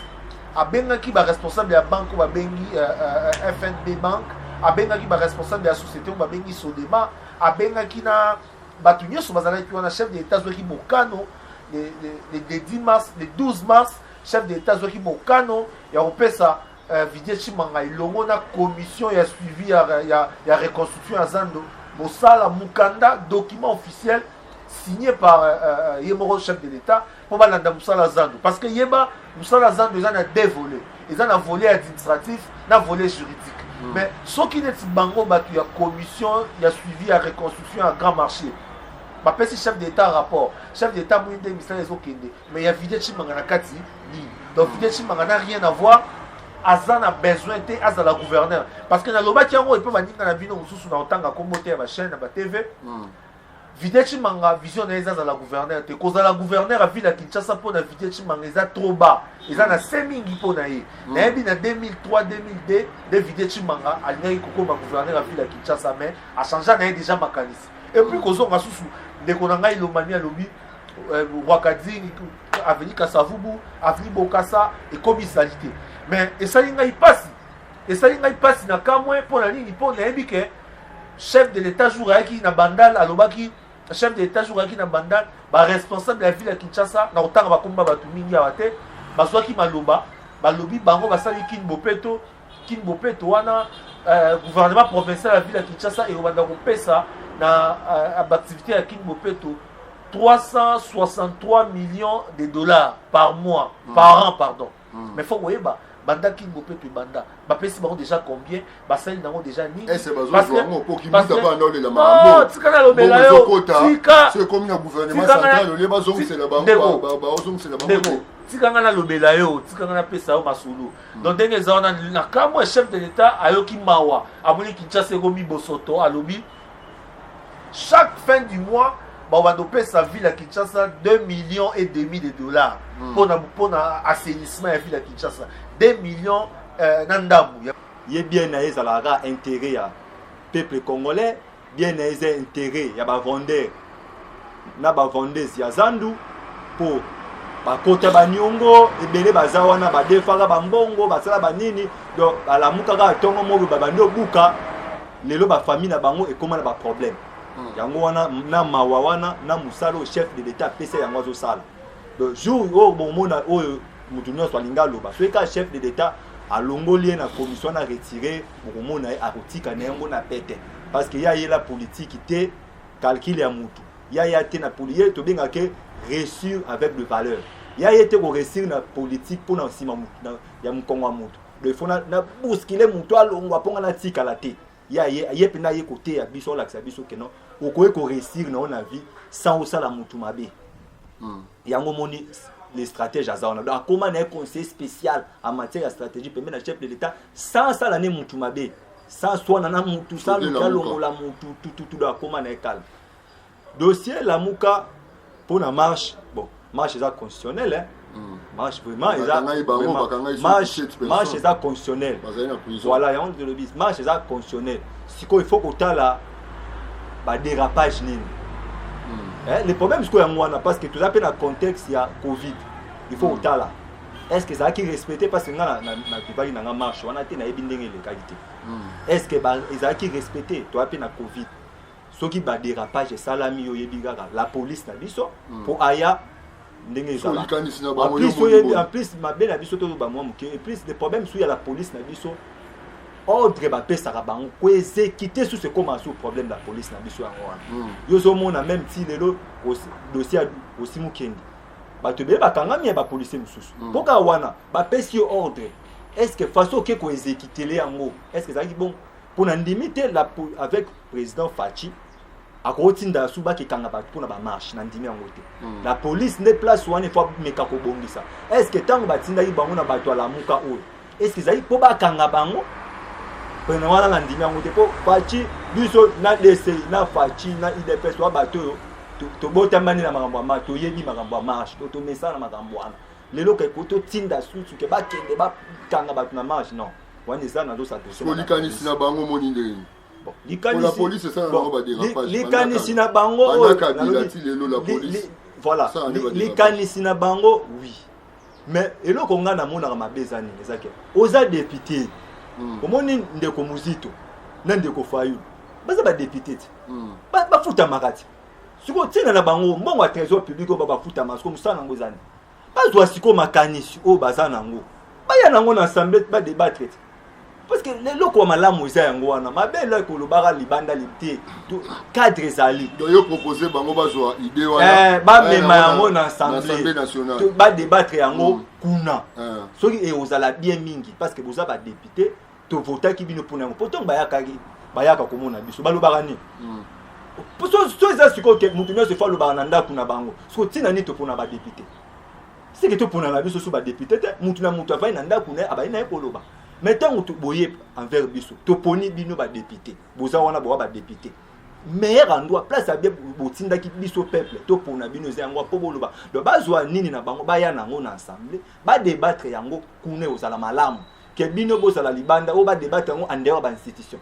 abengaki baresponsable ya banque oyo babengi euh, euh, euh, fnb banque abengaki baresponsable ya société oyo babengi sodema abengaki na bato nyonso bazalaki wana chef de l'état azwaki mokano le, le, le, le 10 mars le 12 mars Chef d'Etat azwaki mokano ya kopesa uh, Vidier Chimanga elongo na commission ya suivi ya, ya, ya reconstruction ya Zando mosala mukanda document officiel signé par euh, euh, ye moko chef de l'état mpo balanda mosala zando parce que yeba mosala zando eza na deux volet eza na volet administratif na volet juridique mm. mais soki neti bango bato ya commission ya suivi ya reconstruction ya grand marché bapesi chef d'état rapport chef d'état moyi nde misala ezokende mais ya vidya chimanga na kati nini donc vidya chimanga na rien à voir aza na besoin te azala gouverneur parce que nalobaki yango epe baninga na bino mosusu na otanga nkombo te ya bachaine na batv mm. vidya chimanga vision na ye eza azala gouverneur te kozala gouverneur ya ville ya kinshasa mpo na vidya chimanga eza trop bas eza na se mingi mpo na ye mm. nayebi na 2003 2002 nde vidya chimanga alingaki kokoma gouverneur ya ville ya kinshasa mais achangea na ye déjà makanisi epuis kozonga susu ndeko na ngai lomami alobi euh, wakadini aveni kasavubu aveni bokasa ekomi salite mais esali ngai mpasi esali ngai mpasi na kamwe mpo na nini mpo nayebi ke chef de l'état jour ayaki na bandal alobaki chef de l'état jour ayaki na bandal baresponsable ya ville ya kinshasa na kotanga bakomba bato mingi awa te bazwaki maloba balobi bango basali kini bopeto kin bopeto wana euh, gouvernement provincial ya ville ya kinshasa ekobanda kopesa na euh, baactivité ya kin bopeto 363 millions de dollars par mois mm. par an pardon mm. mais faut koyeba banda kin bopeto ebanda bapesi bango déjà combien basali nango déjà ninitika nalobela yotika nga nalobela yo tika nga napesa yo masolo donc ndenge eza wana na kambo ya chef de l'etat ayoki mawa amoni kinshasa ekomi bosoto alobi chaque fin du mois babanda opesa ville ya kinshasa 2 millions et demi de dollars mpona hmm. mpona assainissement ya ville ya kinshasa 2 millions euh, na ndambo ye bien na ye ezalaka kaka intérêt ya peuple congolais bien na ye eza interet ya bavendeur na bavendeuse ya zandu mpo bakota baniongo ebele baza wana badefaka bambongo basala banini donc balamukaka atongo mobe babandi obuka lelo bafamille na bango ekóma na baproblème hmm. yango wana na mawa wana na mosala oyo chef de l'état apesa yango azosala donc jour oyo bomona oyo moto nyonso alingi aloba soki kaka chef de l'état alongoli ye na commission na retire bokomona ye akotika na yango na pete parce que ye ayela politiki te calcul ya mutu ye aya te na poli ye tobengaka ke réussir avec de valeur ye aye te koresir na politiki mpo na nsima ya mokongo ya motu do ifo na buskile motu alongwa mpo nga natikala te ye aye ye mpenza aye koteya biso olakisa biso keno okoki koresir na yo na vie sans osala motu mabe hmm. yango moni le stratège aza wana donc akoma na ye conseiller spécial en matière ya stratégie pembe na chef de l'état sans asala ne mutu mabe sans swana na mutu sans luki alongola mutu tututu donc akoma na ye kala dossier lamuka mpo na marche bon marche eza constitutionnel hein? Hmm. marche vraiment eza marche eza constitutionnel voilà yango tolobi marche eza constitutionnel sikoyo il faut kotala ba dérapage nini hmm. eh, le problème sikoyo yango wana parce que toza mpe na contexte ya covid il faut kotala hmm. est ce que ezalaki respecté parce que nga nakipaki na nga marche wana te nayebi ndenge elekaki te hmm. est ce que ezalaki respecté toza mpe na covid soki badérapage esalami yo oyebi kaka la police na biso mpo aya ndenge ezalaplus mabe na biso tozo bamwa moke eplus de problème su ya la police na biso ordre bapesaka bango koezekite susu ekoma su problème la police na biso yango wana hmm. yo ozomona meme ti lelo dossier ya osimukende bato ebele bakangami ya bapolisier mosusu hmm. mpo kaka wana bapesi yo ordre estce façon oke koezekitele yango estce ezalaki bongo mpo na ndimi te avec président faci akotinda su bake kanga bato mpona bamarche nandimi yango te hmm. la police nde place wana efo ameka kobongisa est ce que ntango batindaki bango na bato ya lamuka oyo est ce que ezali mpo bakanga bango pene wana nandimi yango te mpo faci biso na dci na faci na idps wa bato oyo tobotamani na makambo ya ma toyebi makambo ya marche to tomesana na makambo wana lelo keko totinda susu ke bakende bakanga bato na marche non wana eza nazosatolikanisi na bango moni ndenge likanisi na bango voilà likanisi na bango oui mais eloko ngai namonaka mabe eza nini eza ke oza depute hmm. omoni ndeko muzito na ndeko fayulu baza badepute te hmm. bafutamaka te sikoyo ntina na bango mbongo ya trésor public oyo babafutamaka sikoyo mosala yango eza nini bazwa sikoyo makanisi oyo baza nango baya nango na assemble badebatre te parce que leloko ya malamu eza yango wana mabe eloi kolobaka libanda te cadre ezali yo propose bango bazwa idée wana eh, bamema yango na assemblée badebatre yango mm. kuna eh. soki ekozala eh, bien mingi parce que boza badepute tovotaki bino mpona yango mpo ntango bayakaki bayaka komona biso balobaka nini mm. so eza sikoyo ke moto nyonso efo alobaka na ndako na bango soko ntina nini topona badepute seke topona na biso so badepute te moto na moto avai na ndako na ye abali na ye koloba mai ntango boye envers biso toponi bino badepute boza wana bowa badepute meilleur endroit place ya bien botindaki biso peuple topona bino eza yango mpo boloba donc bazwa nini na bango baya na yango na assemblée badebattre yango kuna ekozala malamu ke bino bozala libanda oyo badebate yango en dehors ba institution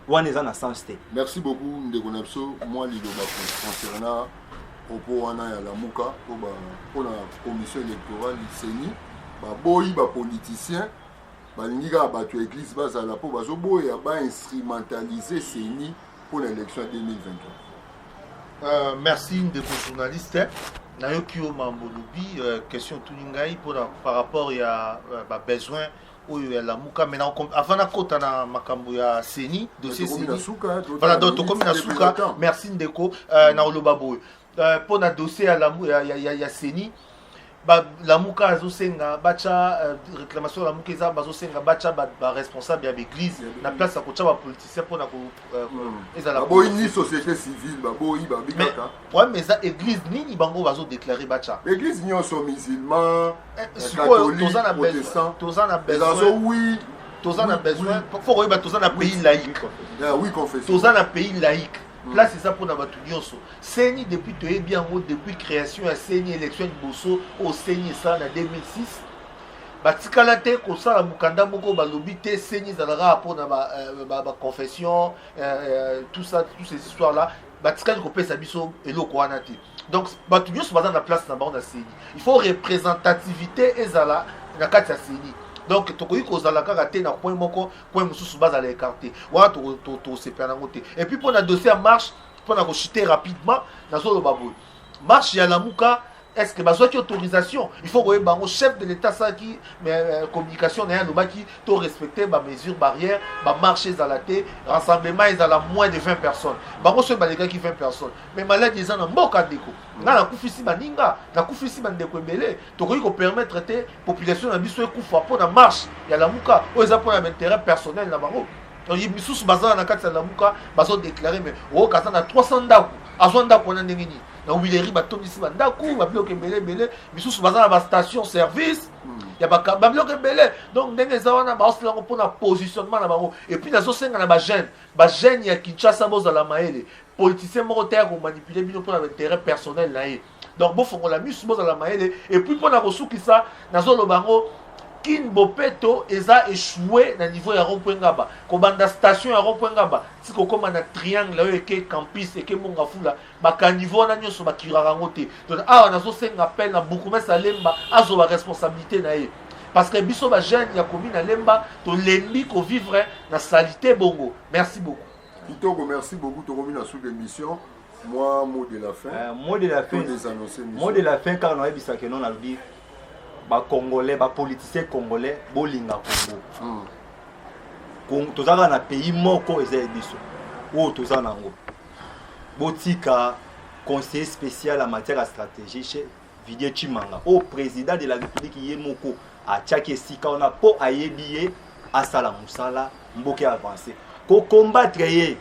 wana eza na sens te merci beaucoup ndeko na biso mwa liloba concernant propos wana ya lamuka mpona commission électorale seni baboyi bapoliticien balingi kaka bato ya église bazala mpo bazoboya bainstrumentalise seni mpo na élection ya 2023 Uh, merci ndeko journaliste nayoki yo mambo olobi uh, question otuni ngai mpona par rapport ya uh, euh, babesoin oyo ya lamuka mai avant nakota na makambo ya seni dossier seni voilà donc tokomi na suka merci ndeko uh, mm. na oloba boye uh, mpo na dossier ya, ya, ya, ya, ya seni uh, balamuka azosenga batya euh, réclamation ya lamuka eza bazosenga batya baresponsable ya baeglise na place ya kotya bapoliticien mpona euh, hmm. ezalababoyi ni société civile baboyi babi kaka problème eza église nini bango bazodeklare batya église nyonso musulman eh, catholique toza na besoin wi toza na besoin fo koyeba toza na pays laïque toza na pays laïque place eza mpona bato nyonso ceni depuis toyebi yango depuis création ya ceni élection liboso oyo ceni esala na 2006 batikala te kosala mokanda moko balobi te ceni ezalaka mpo na baconfession euh, ba, ba euh, euh, tout ça toutes ces histoires là batikali kopesa biso eloko wana te donc bato nyonso baza na place na bango na ceni il faut représentativité ezala na kati ya ceni donc tokoki kozala kaka te na point moko coin mosusu bazala écarté wana tosepela nango te et puis mpo na dossier ya marche mpo na kochute rapidement nazoloba boye marche ya lamuka est ce que bazwaki autorisation il faut koyeba yango chef de l'état asalaki euh, communication na ye alobaki to respecte bamesure barrière bamarche ezala te rassemblement ezala moins de 20 personnes bango soki balekaki 20 personnes mais maladi eza na mboka ndeko nga nakufisi baninga nakufisi bandeko ebele tokoki ko permettre te population na biso ekufa mpo na marche ya lamuka oyo eza mpo na intérêt personnel na bango misusu baza na kati ya lamuka bazo déclare mais oyoka aza na 300 ndako azwa ndako wana ndenge nini na wileri batondisi bandako babiloko ebele ebele misusu baza na bastation service hmm. ya babiloko ebele donc ndenge eza wana baosala yango mpo na positionnement na bango epuis nazosenga na bagene bagene ya kinshasa bozala mayele politicien moko te ya komanipule bino mpo na baintérêt personnel na ye donc bofongola misu bozala mayele epuis mpo na kosukisa nazoloba yango kin bopeto eza echoue na niveau ya rompoint ngaba kobanda station ya rompoint ngaba ti kokóma na triangle oyo eke campus eke monga fula bakaniveau wana nyonso bakiraka yango te donc awa nazosenga appel na bourgmestre alemba azoba responsabilité na ye parce que biso bajeune ya komi na lemba tolembi kovivre na salite bongo merci beaucoup kitoko merci beaucoup tokomi na sous émission mwa mot de la fin euh, mot de la fin mot de la fin kaka nayebisa ke non nalobi bacongolais bapoliticien congolais bolinga congo hmm. toza kaka na pays moko eza ya biso oyo toza na yango botika conseiller spécial ya matière ya stratégie chez Vidier Chimanga au oh, président de la République Yemoko a tchaki esika wana po ayebi ye asala musala mboke avance ko combattre ye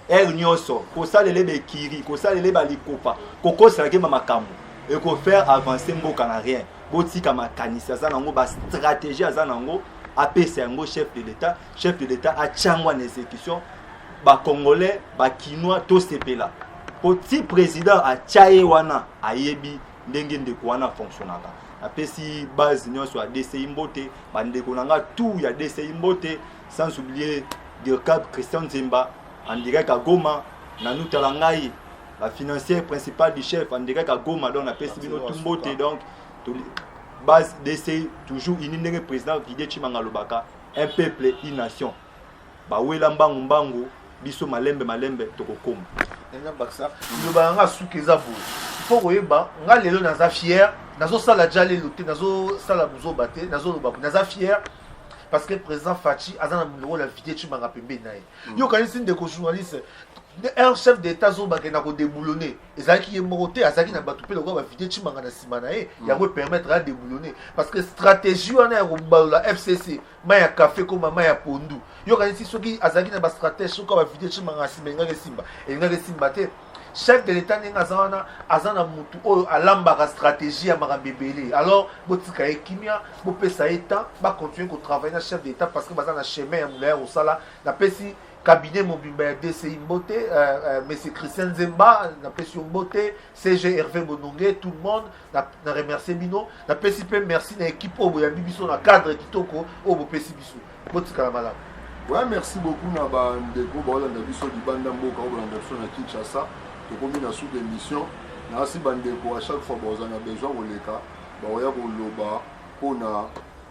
heure nyonso kosalela ye bekiri kosalela ye balikopa kokoselaka ye ma makambo ekofaire avance mboka na rien botika makanisi aza nango bastratégie aza nango apesa yango chef de l'état chef de l'etat atya yango en exécution bacongolais bakinois tosepela mpo ti président atya ye wana ayebi ndenge ndeko wana afonctionnaka napesi base nyonso ya dci mbote bandeko na nga tout ya dci mbote sans oublier dircab christian nzemba en direct à goma nanu tala ngai la financière principale du chef en direct à goma donc napesi bino tout mbote donc base dci toujours ini ndenge président vidie chimanga alobaka un peuple une nation bawela mbangu mbangu biso malembe malembe tokokoma eza bakisa liloba na nga suki eza boye mpo koyeba nga lelo naza fier nazosala ja lelo te nazosala buzoba te nazoloba boye naza fier parce que président faci aza na lokola invité cimanga pembeni na ye mm. yo okanisi ndeko journaliste un chef d'état azobakenda kodeboulonne ezalaki ye moko te azalaki na bato mpe lokola bavideo cimanga na nsima na ye mm. yango epermettre adeboulonne parce que stratégie wana ya kobalola fcc mai ya kafe koma mai ya pondu yokanisi soki azalaki na bastratège soki bavideo cimanga na nsima elingaki esimba elingaki esimba te chef de l'état ndenge aza wana aza na motu oyo alambaka stratégie ya makambo ebele alors botika ye kimia bopesa ye temps bacontinue kotravaille na chef de l'état parce que baza na chemin ya molai ya kosala napesi cabinet mobimba ya dci mbote euh, euh, monsieur christian nzemba napesi yo mbote cg herve bononge tout le monde na, na remercie bino napesi mpe merci na équipe oyo boyambi biso na cadre kitoko oyo bopesi biso botikala malamu ouais, merci beaucoup na bandeko baolanda biso libanda mboka oyo bolanda biso na kinshasa tokomi na sous émission nasi bandeko à chaque fois baoza na besoin koleka baoya koloba mpona